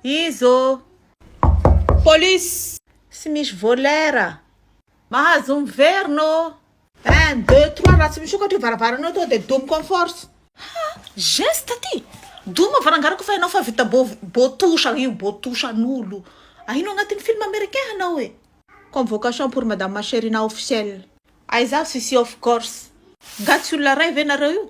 Izy ô! Police! Tsy misy volaire! Mahazo miverina ô! Un, deux, trois, raha tsy misokatra io varavarana io tonga dia domiko en force! Ha! Geste ty! Doma varangarako fa ianao fa vita bo, botouche io, botouche an'olo! Ahino agnatin'ny film américain hanao e! Convocation pour madame Cherina officiel. Aiza avy sisy off course. Nga tsy olona ray ve nareo io?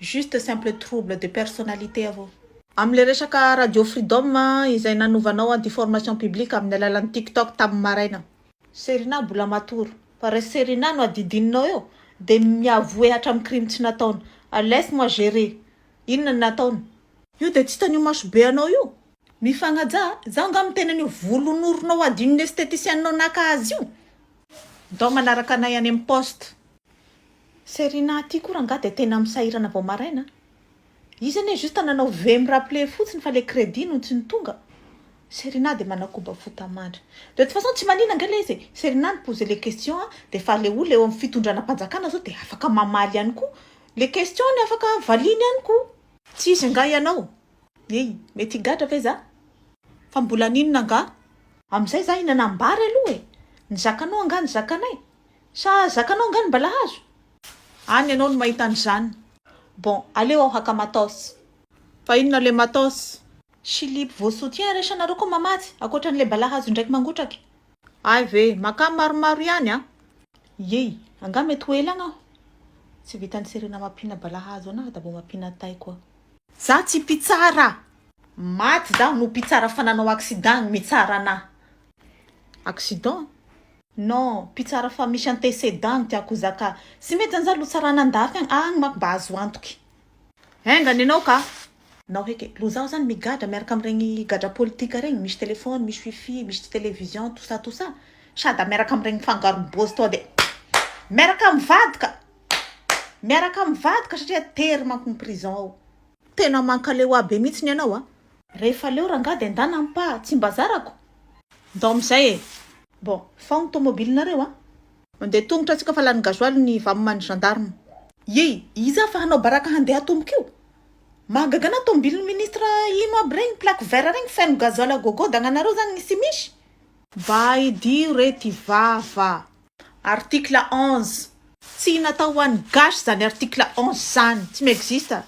Juste simple trouble de personnalité avao. Amin'ilay resaka Radio Freedom izay nanovanao anti formation publique amin'ny alalan'ny tiktok tamin'ny maraina. Serina mbola matory fa raha Serina no adidininao eo dia mi avouer hatramin'ny crime tsy nataony. Laisse moi gerer. Inona no nataony? Io dia tsy hitan'io masobe anao io. Mifagnaja a! Izaho angaha miteny an'io volon'oronao adinon'ny estheticienne-nao naka azy io? Ndao manaraka anay any amin'ny poste. Serena aty koa rangaha dia tena misahirana vao maraina a! Izy anie juste nanao veuillez me rappeler fotsiny fa ilay crédit no tsy nitonga. Serena dia manakoba fo tamandry. De toute façon tsy manina ange ilay izy e! Serena ni-poser le question a! Dia efa ilay olona eo amin'ny fitondranam-panjakana izao dia afaka mamaly ihany koa. Le question-ny afaka valiany ihany koa. Tsy izy angaha ianao? Ey! Mety higadra ve za? Fa mbola haninona angaha? Amin'izay za hihinana am-bary aloha e! Ny zakanao angaha ny zakanay? Sa zakanao angaha ny balahazo? Any ianao no mahita an'izany. Bon, aleo aho haka matos. Fa inona ilay matos? Silipo vao soutien iraisanareo koa mamatsy, ankoatran'ilay balahazo indraiky mangotraka e! Hay ve! Makà maromaro ihany an! Ey! Angaha mety ho ela agny aho? Tsy vitan'i Serena mampiana balahazo anahy da vao mampiana tay koa. Za tsy mpitsara maty zaho no mpitsara fa nanao accident gny mitsara anah accident? Non mpitsara fa misy antécédent no tiako hozaka tsy mety zany za lotsarana andafy agny agny manko mba azo antoky. Enga ny anao ka nao heky lo zaho zany migadra miaraka amiregny gadra politika regny misy telephone misy wifi misy television tout ça tout ça sady miaraka amiregny fangarony bôzy toa de miaraka mivady ka Miaraka amin'ny vadiko satria tery manko ny prison ao. Tena mankaleo ahy be mihitsy ny anao a. Rehefa leo rangah de ndana ampa tsy mba zarako. Ndao amizay e. Bon fao ny tomobilinareo a. Mandeha tongotra antsika fa lany gasoil ny vamoman'ny gendarme. Yey! Iza fa hanao baraka handeha atomboka io? Mahagaga anah tomobilin'ny ministre ino aby regny plaque vert regny feno gasoil à gogo dagnanareo zany ny tsy misy? Mba idio re ty vava. Article onze. Tsy natao ho an'ny gasy zany article onze zany. Tsy mi-existe.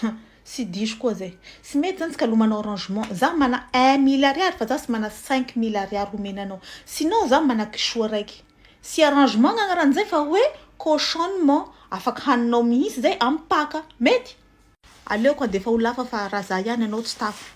Hum tsy diso koa zay. Tsy mety zany tsika lomana orangement. Za mana un mille ariary fa za tsy mana cinq mille ariary homena anao. Sinon za mana kisoa raiky. Tsy arrangement ny agnaran'izay fa hoe cautionnement. Afaka haninao mihitsy zay am paka. Mety? Aleoko handefa ho lafa fa raha za ihany anao tsy tafa.